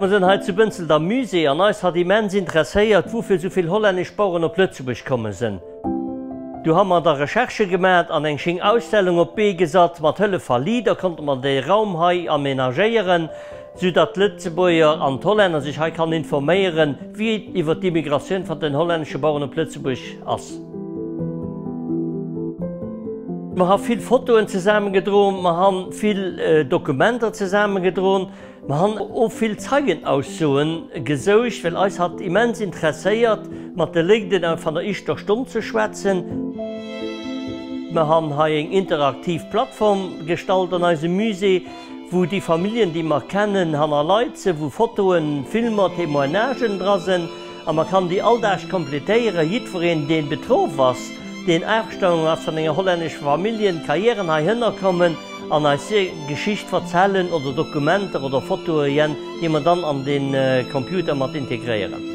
Mer sinn hei zu Bënzelt am Musée an eis hat immens interesséiert, woufir esou vill hollännesch Baueren op Lëtzebuerg komme sinn. Du ha mer da Recherchë gemat an eng schéng Ausstellung op d'Bee gesat. Mat Hëllef va LEADER konnte mer de Raum hei amenagéieren, sou datt d'Lëtzebuerger an d'Hollänner sech hei kann informéieren, wéi et iwwer d'Immigratioun van den hollännesche Baueren op Lëtzebuerg ass. Mer ha vill Fotoen zesaammen gedroen, mer han vill Dokumenter zesaammen gedroen. Mer han o vill Zeigenaussoen gesoucht, well eis hat immens interesséiert, mat de Légden a van der ischter Stonn ze schwätzen. Mer han hei éng interaktiv Plattform gestalt an eisem Musée, wou déi Familjen, déi mer kennen, hannerleit se, wou Fotoen, Filmer, Témoignagen dra sen. A mer kann déi all Dag completéieren. Jiddwereen, dee betroff ass, deen aafgestaungen ass van enger hollännescher Familjen, ka jiären heihënner kommen an eis hier Geschicht verzellen oder Dokumenter oder Fotoeën, déi mer dann an den Computer mat integréieren.